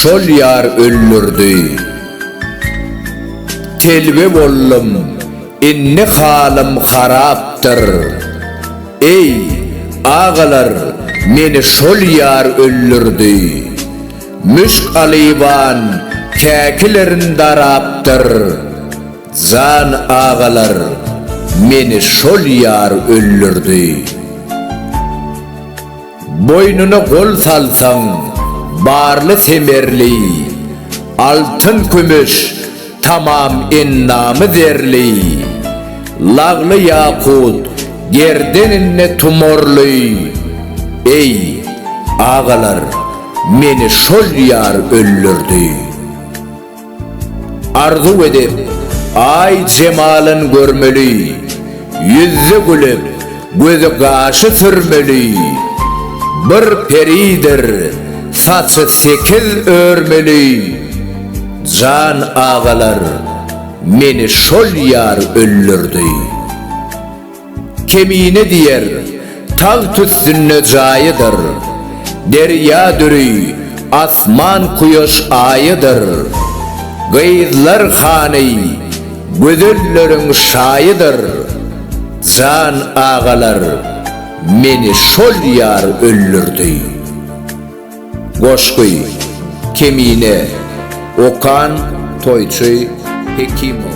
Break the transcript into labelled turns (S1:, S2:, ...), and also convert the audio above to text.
S1: Şol ýar öldürdi. Telbe boldum, indi halym harapdyr. Eý, agalar, meni şol ýar öldürdi. Müşk alyban käkilerin darapdyr. Jan agalar meni şol ýar öldürdi. Boýnuna gol salsaň barly semerli Altyn kümüş tamam endamy zerli Lagly ýakut gerdeninde tumorly Eý agalar meni şol ýar öldürdi. Arzuw edip, Aý jemalyn görmeli, Ýüzi gülüp, gözi gaşy sürmeli, Bir peridir, saçy sekiz örmeli, Jan agalar, meni şol ýar öldürdi. Kemine diýer, tagt üstünde jaýydyr, Derýa düri, asman kuýaş aýydyr. Gyzlar hany, gözelleriň şaýydyr, Jan agalar, meni şol ýar öldürdi. Goşgy, Kemine, okan, toýçy, Hekimow.